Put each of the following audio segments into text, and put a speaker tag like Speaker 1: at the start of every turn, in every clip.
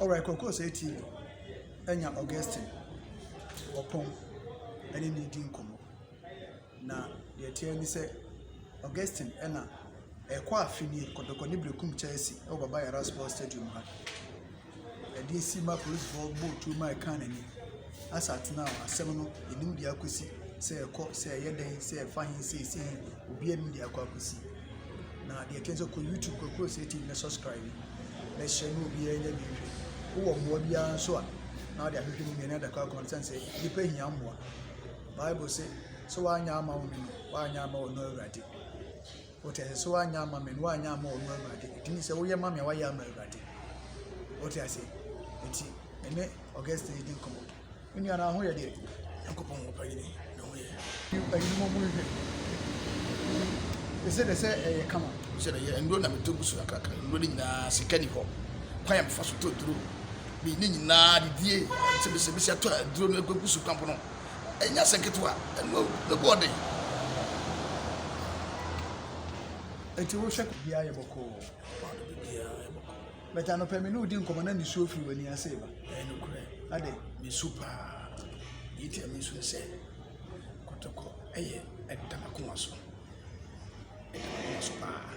Speaker 1: Alright, Koko say TV. Enya Augustine. Opon. Any need in komo. Na the tear ni say Augustine ena ɛkɔ afini kɔdɔkɔ ne brekum Chelsea ɛwɔ Baba Yara Sports Stadium ha. Ɛde asi ma polisifo bɔ tuo ma ɛka n'ani. Asa tenaa hɔ. Asɛm no, yɛnim deɛ akɔsi, sɛ ɛkɔ, sɛ ɛyɛ dɛn, sɛ ɛfa he, sɛ ɛsi he, obiara nim deɛ akɔ akɔsi. Na deɛ ɛteɛ nso, kɔ YouTube Kwaku Osei TV na subscribe na hyɛ na obiara nya bi nhwɛ. Wowɔ mmoa biara nso a, na wode ahwehwɛ no mmienu adaka akɔn no, sɛne sɛ nnipa hia mmoa. Bible se, sɛ woanyɛ ama wo hene no, woanyɛ ama ɔno Awurade. Ɔte ase sɛ woanyɛ ama me no woanyɛ ama ɔno Awurade. Ɛgye ne sɛ woyɛ ma me a woayɛ ama Awurade. Ɔte ase. Enti ɛne Augustine di nkɔmmɔ. Me nua na ho yɛ deɛ. Nyankopɔn ho pa yini na ho yɛ. Ɛyini mo mu nhwɛ. Ɛsɛ dɛ sɛ ɛyɛ kama. Sɛ dɛ yɛ nnuro na metɔ gu so akraka nnuro no nyinaa sika ni hɔ. Kwan a mefa so tɔ duro. Me ne nyinaa didie. Sɛ bɛsɛ bɛsi atɔ aduro no agu so kwan pono. Ɛnyɛ asɛm ketewa, ɛno awu no boɔ den. Enti wo hwɛ biribiara ayɛ bɔkɔɔ. Paano biribiara ayɛ bɔkɔɔ. But anɔpɛ me ne wo di nkɔmɔ na nisuo firi w'ani ase ba. Ɛyɛ nokorɛ. Adɛn? Mesu paa. Deɛ nti a mesu ne sɛ kɔtɔkɔ ɛyɛ ɛda m'akoma so. Ɛda m'akoma so paa.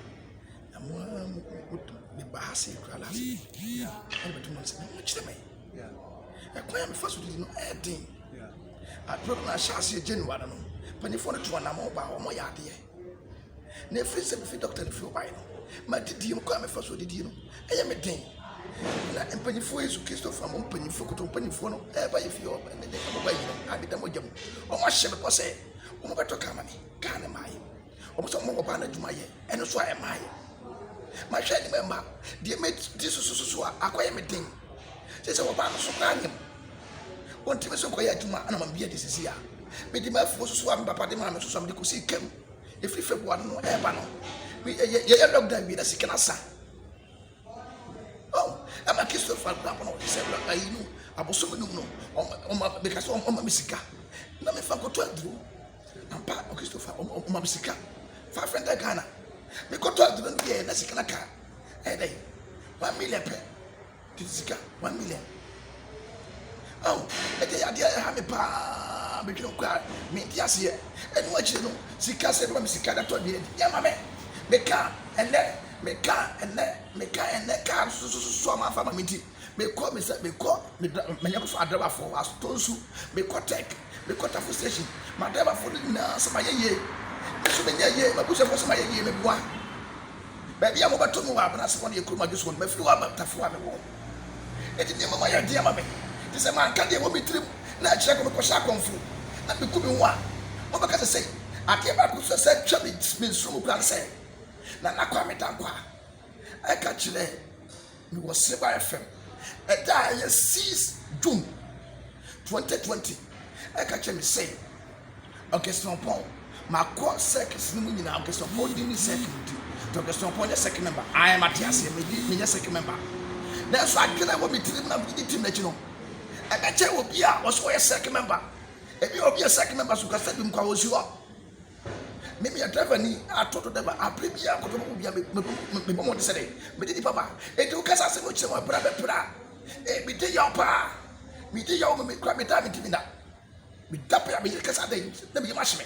Speaker 1: Na mo ara mo de ba ha sei koraa last week. Ɛna bɛto mo nsɛm na mo kyerɛ me. ɛkwan a mefa so didi no ɛyɛ den abere no na ahyɛ aseɛ january no mpanimfoɔ no tu anamɔ baa wɔn yɛ adeɛ na efiri sɛ mefi dɔkta no fi ɔbae no ma didie no kwan a mefa so didie no ɛyɛ me den na mpanimfoɔ yesu kristo fa mo mpanimfoɔ koto mpanimfoɔ no ɛba yɛ fie ɔba ne de ɔba yi no adeda mogya mu wɔn ahyɛ me bɔ sɛ wɔn bɛtɔ kaa ma me kaa ne maa yɛ Wɔn sɛ wɔn ɔbaa no adwuma yɛ, ɛno nso a ɛmaa yɛ. Mahwɛ anim ɛma deɛ mɛdi sosososo a akɔyɛ me den. Sɛ sɛ ɔbaa no so koraa nyɛ mu. Wɔntumi so nkɔyɛ adwuma ana mam bi adi sisi a. Mede m'afuo soso a me papa de maa me soso a mede kɔsii kam. Ɛfiri February no ɛreba no, yɛyɛ lockdown wie na sika no asa. Oh, ɛma Christopher akora kɔ na ɔde sɛ ayi no abosom num no, ɔma meka sɛ ɔma me sika na mefa nkɔtɔ aduro. Ampa Christo fa ɔmo ɔmo ma me sika five hundred Ghana me kɔ tɔ aduane bi yɛ na sika na ka ɛyɛ dɛ one million pɛ tete sika one million awo ɛdi yɛ adeɛ ɛha me paa me dwene kɔ a me nti aseɛ ɛnu akyire no sika sɛ ɛbɛma me sika da tɔ aduane di yɛ ma me me ka ɛnɛ me ka ɛnɛ me ka ɛnɛ kaa sososo a ma fa ma me nti. mekɔ mesa mekɔ meda manya kɔfa adrabafoɔ wɔ asotɔ nsu mekɔ tech mekɔ tafo station madrabafoɔ no nyinaa so mayɛ yie me so menyɛ yie mabusuafoɔ so mayɛ yie meboa baabi a mobɛto me wɔ abena ase hɔ no yɛ kurom adwo soɔ no mafiri hɔ aba tafo a mewɔ ɛti nneɛma ma yɛ den ama me te sɛ manka deɛ wɔ me tirim na akyerɛ kɔ mekɔhyɛ akɔmfo na meku me ho a mobɛka sɛ sɛ adeɛ baako so sɛ twa me nsoro mu kora no sɛ na nakɔ a meda nkɔ a ɛka kyerɛ Mewɔ Silver FM ɛda a ɛyɛ six June twenty twenty ɛka kyerɛ me sɛ Augustine Ɔpɔn makɔ circuits no mu nyinaa Augustine Ɔpɔn di ne circuit nti nti Augustine Ɔpɔn nyɛ circuit member ayɛ mate aseɛ medi menyɛ circuit member nanso adwene a ɛwɔ me tirim na mede tim n'akyi no ɛbɛkyɛ obi a ɔsɛ ɔyɛ circuit member ebi a obi yɛ circuit member so nka stadium kɔ a ɔsi hɔ Meyɛ driverni a tɔ do dɛ ma aber biara kɔ bɛma obiara me me mebɔ mbɔdzen sɛ dɛ menye nyimpa ba. Ntsi wo kasa asɛm no kyerɛ mu aber a mɛper a, ee meda yaw paa, meda yaw ma mekura me da a menntumi nda. Meda ber a me yer kasa dɛ na me yamu ahye me.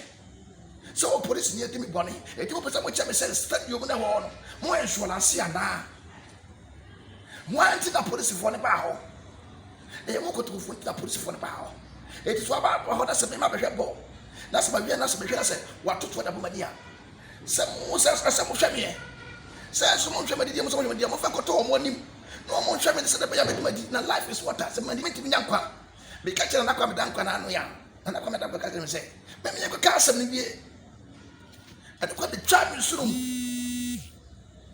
Speaker 1: Sɛ ɔwɔ polisinyi a ɔdzi me bɔn, ntsi mopɛ sɛ mokyerɛ me sɛ sɛnea omunnahɔɔ no, mowɔ nsuɔlanse anaa? Hwan nti na polisifoɔ no baa hɔ? Ɛyɛ mo nkontomfoɔ nti na polisifoɔ no baa hɔ. Enti so aba hɔ na sɛ mema bɛhwɛ bɔɔl, na sɛ mawie na sɛ mehwɛ na sɛ wɔatoto ade abɔ m'ani a, sɛ mo sɛ na sɛ mohwɛ me ɛ? Sɛ nso monhwɛ m'adidie mu sɛ mohwɛ me deɛ, momfa nkɔto wɔn anim na wɔn nhwɛ me no sɛdeɛ ɛbɛyɛ a mɛdi m'adi, na life is water, sɛ mandi mentumi nya nkwa. Meka kyerɛɛ Nana Kwame Dankwa na ano yɛ a, Nana Kwame Dankwa ka kyerɛɛ me sɛ, me me yɛnkɔka asɛm no nwie. Ɛno koraa bɛtwaa me nsono mu.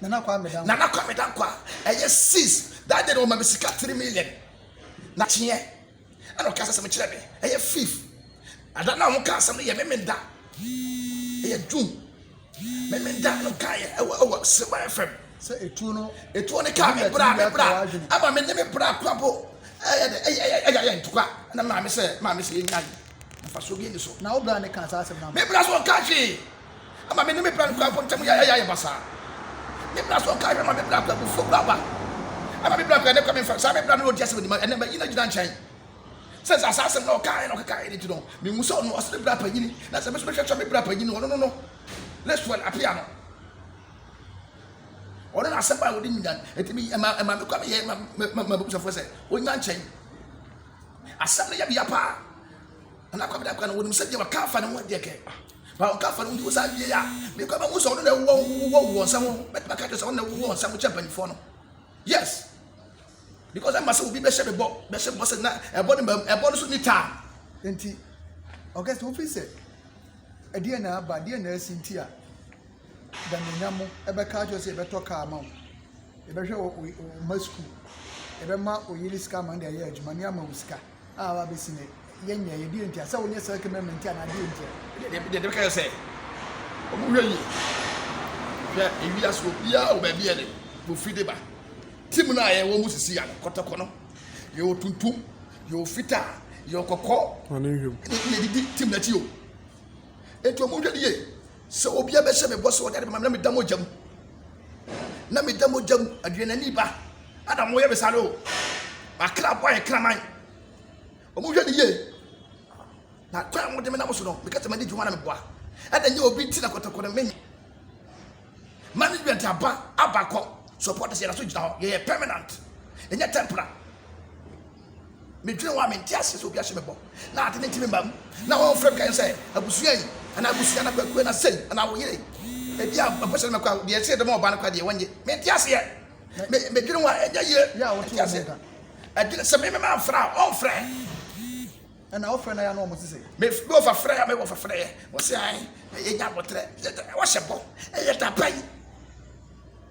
Speaker 1: Nana Kwame Dankwa. Nana Kwame Dankwa ɛyɛ sis that day no wɔma me sika three million na kyeɛ ɛna ɔka asɛm kyerɛ me ɛyɛ fifth ada na wɔn ka asɛm no yɛ memenda ɛyɛ June memenda no ka yɛ ɛwɔ ɛwɔ Silver FM sɛ etuo no etuo no kaa me bra me bra ama me ne me bra kwabo ɛyɛ ɛyɛ ɛyɛ ɛyɛ ntokwa ɛna maame sɛ maame sɛ yɛ nyan nafa so bi ni so na wo bra ne ka saa asɛm na me bra so ɔka hwee. ama me ne me bra no kurafo ntam yɛ ayɛ basaa. Me bra so ɔka hwɛ ma me bra kɔ abufuo kura aba ama me bra kɔ ɛne kɔ me mfa saa me bra no na ɔdi asɛm anim ɛnɛ mayi no agyina nkyɛn sɛ sɛ saa asɛm na ɔkaeɛ na ɔkekaeɛ no nti no mehu sɛ ɔno ɔsene bra panyini na sɛ me so mehwɛkyɛ me bra panyini ɔno no no Lexwell apea no ɔno na asɛm a wɔde nyina ɛti mi ɛma ɛma me kɔ me yɛ ma ma ma busafoɔ sɛ ɔnya nkyɛn asɛm no yɛ deɛ paa Nana Kwame Dankwa no, wɔnim sɛdeɛ wɔka afa ne ho adeɛ kɛ. Ba wɔka afa ne ho nti wɔsan wie a, mekɔ ɛbɛhu sɛ ɔno na ɛwɔ wɔ wɔ nsɛm ho. Mɛtumi aka kyerɛ sɛ ɔno na ɛwɔ wɔ nsɛm kyɛ mpanimfoɔ no. Yes. Because ɛma sɛ obi bɛhyɛ me bɔ, bɛhyɛ me bɔ sɛ na ɛbɔ no ɛbɔ no so ni taa. Nti, ɔka sɛ wofi sɛ ɛdeɛ na aba, deɛ na asi nti a, danyanya mo ɛbɛka akyerɛ sɛ yɛbɛtɔ kaa ma wo, yɛbɛhwɛ wo mma sukuu, yɛbɛma oyere sika ama no de ayɛ adwuma ne ama wo sika. a aba abɛsi nnɛ, yɛnyɛ, yɛ deɛ ntia, sɛ wonyɛ self memory nti anaa deɛ ntia. Deɛ deɛ deɛ bɛka yɛ sɛ, wɔn hwɛ yie, hwɛ ewi aso obiara wɔ baabi yɛ de wɔfiri de ba. Tim no a yɛwɔ mu sisi ano, kɔtɔkɔ no, yɛwɔ tuntum, yɛwɔ fitaa, yɛwɔ kɔkɔɔ, yɛdidi tim n'akyi o. Nti wɔn hwɛ yie, Sɛ obia bɛhyɛ me bɔ sɛ ɔde ade bɛma me na meda mogya mu na meda mogya mu aduanani ba ada mo yɛ me saa no o makra bɔ ayɛ kraman ɔmo hwɛ ne yie na kwan a mode me nam so no meka sɛ madi dwuma na meboa ɛna nyɛ obi nti na kɔtɔkɔ no menye management aba abakɔ support sɛ yɛda so gyina hɔ yɛyɛ permanent ɛnyɛ temporary Medwene hɔ a, mente aseɛ sɛ obi ahyɛ me bɔ na ade no nti memma mu na wɔmfrɛ me kan sɛ abusua yi anaa abusua no kwakuo no asɛm anaa wo yere yi ebi a mpɛ sɛ no mɛkɔ a deɛ ɛsɛ dɛm a ɔbaa no kɔ a deɛ wɔnye mente aseɛ me medwene hɔ a ɛnyɛ yie mente aseɛ ɛdwene sɛ me mema mfrɛ a ɔmfrɛ ɛna ɔfrɛ na ya na ɔmo te sɛ me me wɔfa frɛ ya me wɔfa frɛ yɛ wɔsɛ an yɛnya abotrɛ wɔhyɛ bɔ ɛyɛ daba yi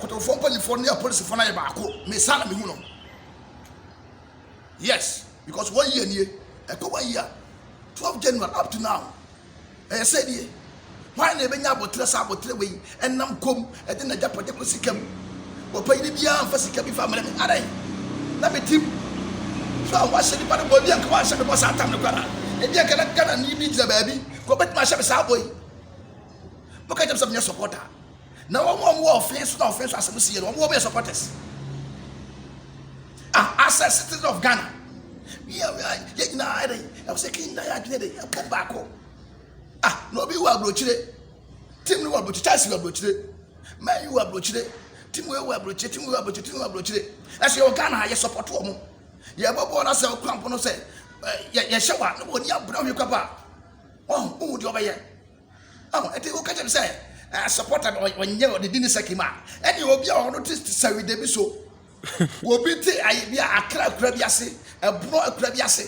Speaker 1: Kotowfoɔ mpaninfoɔ ne apolisifoɔ no ayɛ baako me saa na me hu no yes because one year nie ɛkɔ one year twelve January up to now ɛyɛ sɛ nie hwan na ɛbɛnya abɔterɛ saa abɔterɛ wei ɛnam kom ɛde na gya pɔtɛ kɔ sika mu wɔpanyini biara mfa sika bi fa mmerɛ me adɛn na me tim so a wahyɛ nipa no bɔ ebi anka wanhyɛ me bɔ saa tam no kora ebi anka na Ghana ni bi gyina baabi kɔ bɛtumi ahyɛ me saa bɔ yi mo ka kyɛm sɛ menyɛ supporter Na wɔn a wɔwɔ ɔfee so na ɔfee so asɛm sie no, wɔn wɔbɛyɛ supporters. Ah, as a citizen of Ghana, yɛ yɛ nyinaa ayɛ dɛ, ɛwɔ sɛ kii nyinaa yɛ adwene dɛ, ɛbɔ baako. Ah, na obi wɔ aburokyire, tim no wɔ aburokyire, Chelsea wɔ aburokyire, Man U wɔ aburokyire, tim wɔ wɔ aburokyire, tim wɔ aburokyire, tim wɔ aburokyire. Ɛsɛ yɛ wɔ Ghana ha, yɛ support wɔn. Yɛ bɔ bɔɔl na sɛ ɔkura mpo no sɛ, yɛ yɛ hyɛ wa, na wɔn ni abura hwi kɔ pa. Wɔn, wɔn wɔ deɛ wɔbɛyɛ. Oh, eti o kɛkyɛ mi sɛ ɛɛ eh, supporter no ɔnyɛ ɔde di ne sɛki mu a ɛne obi a ɔno te sɛwi dɛbi so obi te ayi bi a akra akura bi ase ɛborɔ akura bi ase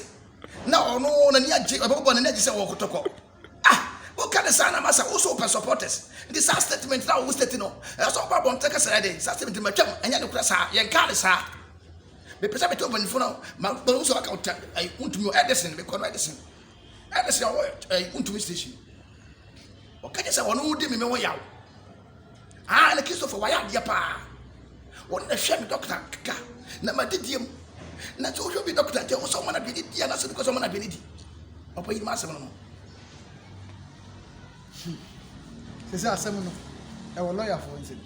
Speaker 1: na ɔno n'ani agye ɔbɛbɔ n'ani agye sɛ ɔwɔ kotokɔ ah o ka ne saa na ma sɛ o so pɛ supporters nti saa statement na ɔwɔ state no ɛyɛ sɛ ɔba abɔnten kasa yɛ de saa statement ma twam ɛnyɛ ne kura saa yɛn kaa ne saa mepɛ sɛ mete ɔbɛnifo no ma bɛn sɛ ɔka ɔtɛ ɛyi ntumi ɛdɛsɛn mekɔ no ɛdɛsɛn ɛna sɛ ɔwɔ ɛyi wontumi station ɔka kyɛ sɛ wɔn wodi mi mi ho yaw aa ɛna kristofo wɔayɛ adeɛ paa wɔn na hwɛ mi dɔkta keka na ma didie mu na sɛ wohwɛ bi dɔkta nkyɛn wo sɛ ɔma no aduane di anasɛ bi kɔ sɛ ɔma no aduane di ɔpɛ yi ma asɛm no no sɛ sɛ asɛm no ɛwɔ lɔyafoɔ nsɛm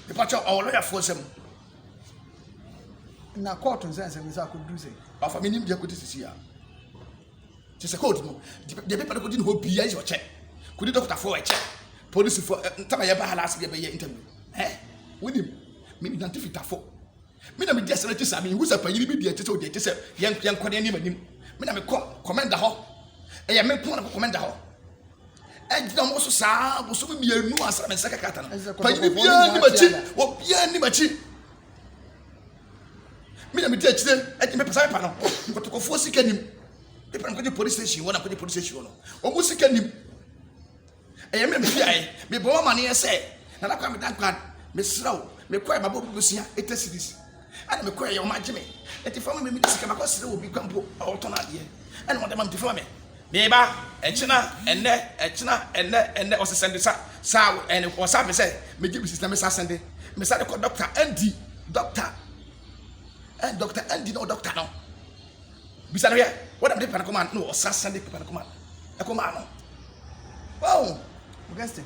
Speaker 1: mepakyɛ ɔwɔ lɔyafoɔ nsɛm na kɔɔto nsɛnsɛm sɛ akɔduru sɛ wafa me nimdeɛ kɔdi sisi a te sɛ kɔɔto no deɛ pepa no kɔdi ne hɔ bia yi sɛ ɔkyɛ kɔdi dɔktafoɔ ɛkyɛ polisifoɔ ntama yɛba ha laase deɛ bɛyɛ interview ɛ wonim me nante fitafo me na medi asɛm akyi saa mehu sɛ panyini bi deɛ ɛte sɛ ɔdeɛ ɛte sɛ yɛnkɔ ne anim anim me na mekɔ kɔmɛnda hɔ ɛyɛ me nko na kɔ kɔmɛnda hɔ ɛgyina mo so saa bosom mmienu ansa me nsa kakata no panyini biara ni makyi obiara ni makyi me na medi akyire ɛgye mepɛ sɛ mepa no kɔtɔkɔfoɔ sika nim mepɛ no kɔgye police station hɔ na kɔgye police station hɔ no ɔmo sika nim ɛyɛ me mfiae mebɔ amaneɛ sɛ nana kwa meda nkwa mesrɛ wo mekɔɛ mabɔ bubusia ɛtɛ series Ɛna me kɔɛ yɛ ɔmo agye me nti fama me mini sika makɔ sere obi kwa mpo a ɔtɔn adeɛ ɛna ɔde ma me nti fama me meba ɛkyena ɛnɛ ɛkyena ɛnɛ ɛnɛ ɔsɛ sɛnde sa saa wo ɛne ɔsa me sɛ megye bi sisi na mesa sɛnde mesa de kɔ dɔkta ɛndi dɔkta ɛn dɔkta ɛndi na ɔdɔkta no bisa no yɛ wɔde mede pɛnɛ kɔma no ɔsa sɛnde pɛnɛ kɔma ɛkɔma no wɔn. Against it.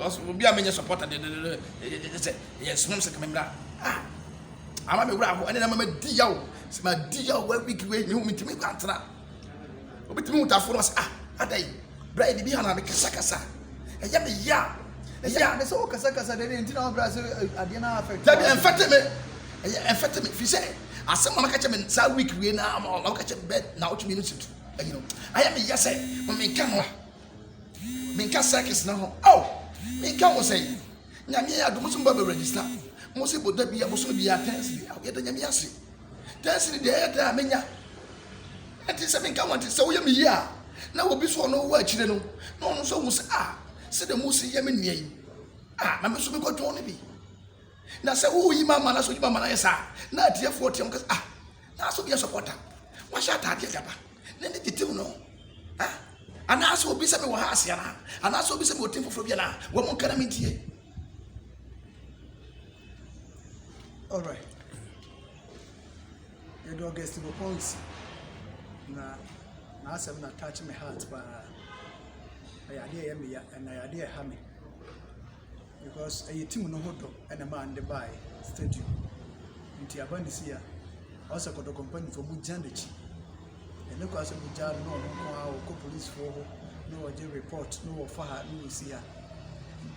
Speaker 1: Because obi a menyɛ supporter de de de de sɛ yɛ snom sɛ kame mmra ah ama me wura ho ɛne na mama di yaw sɛ ma di yaw wɔ week wei me ho me ntumi antena obi tumi wutafo no sɛ ah adai bra yɛ bibi hana me kasa kasa ɛyɛ me ya ɛyɛ a sɛ wɔ kasa kasa de ne ntina wɔ bra sɛ adeɛ na afɛ dabi ɛmfɛte me ɛyɛ ɛmfɛte me fi sɛ asɛm mama kakyɛ me saa week wei na mama kakyɛ me bɛ na wotumi no situ ɛyi no ayɛ me ya sɛ mama nka no a menka circus no ho ao menka ho sɛ nyame yɛ adom so mba bɛ register mo se bɔda bia bosom bia tɛnsiri ao yɛda nyame ase tɛnsiri deɛ ɛyɛ dɛn a menya ɛnti sɛ menka ho nti sɛ woyɛ me yie a na obi so ɔno wɔ akyire no na ɔno nso hu sɛ a ah, sɛ dɛ mu si yɛ me nua yi a ah, na me nso mekɔtɔn no bi na sɛ woyi ma ama na sɛ woyi ma ama no ayɛ saa na atiefoɔ team kasa ah Naaso deɛ sɔpɔ da, wahyɛ ataadeɛ gaba, na ne titiriw no, eh, anaasɛ obi sɛ mewɔ ha ase anaa, anaasɛ obi sɛ mewɔ tim foforɔ bi anaa, wɔn nka na mentie. Alright. Yɛde August Bopɔn si na n'asɛm na touch me heart paa. Ɛyɛ adeɛ ɛyɛ me ya, ɛna ɛyɛ adeɛ ɛha me. because ɛyɛ team no ho dɔ na ɛmaa no de baeɛ stadium. Nti aba ne sei a, ɔwɔ sɛ Kɔtɔkɔ mpanimfoɔ mogyina n'akyi. Ɛnyɛ koraa sɛ mogyaa no na ɔno nko ara ɔkɔ policefoɔ hɔ na ɔgye report na ɔfa ha na ɔsi ha.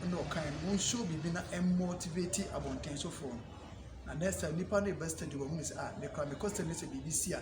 Speaker 1: Ɛnna ɔkaeɛ no, monhyɛ biribi na ɛmmɔɔtiveti abɔntensofoɔ no. Na next time nnipa no reba stadium a, wɔhunu sɛ ah me koraa mekɔ stadium na sɛ biribi si a.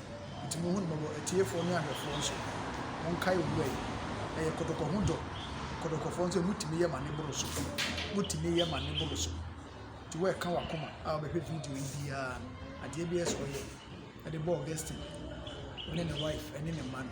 Speaker 1: Nti monhu no mmɔbɔ, atiefoɔ ne ahwɛfoɔ nso, monkae Owura yi. Ɛyɛ kɔtɔkɔ ho dɔ, kɔtɔkɔfoɔ nso motumi yɛ ma ne boro so, motumi yɛ ma ne boro so. Nti woɛka wakoma a wobɛhwɛ video yi biara no, adeɛ biara sɛ ɔyɛ de bɔ Augustine, ɔne ne wife ɛne ne mma no.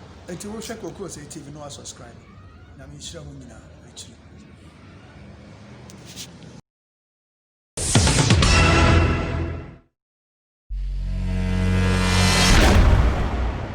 Speaker 1: Enti wo hwɛ kɔ kuro sɛɛ TV no wa subscribe nyame nhyira mu nyina akyiri.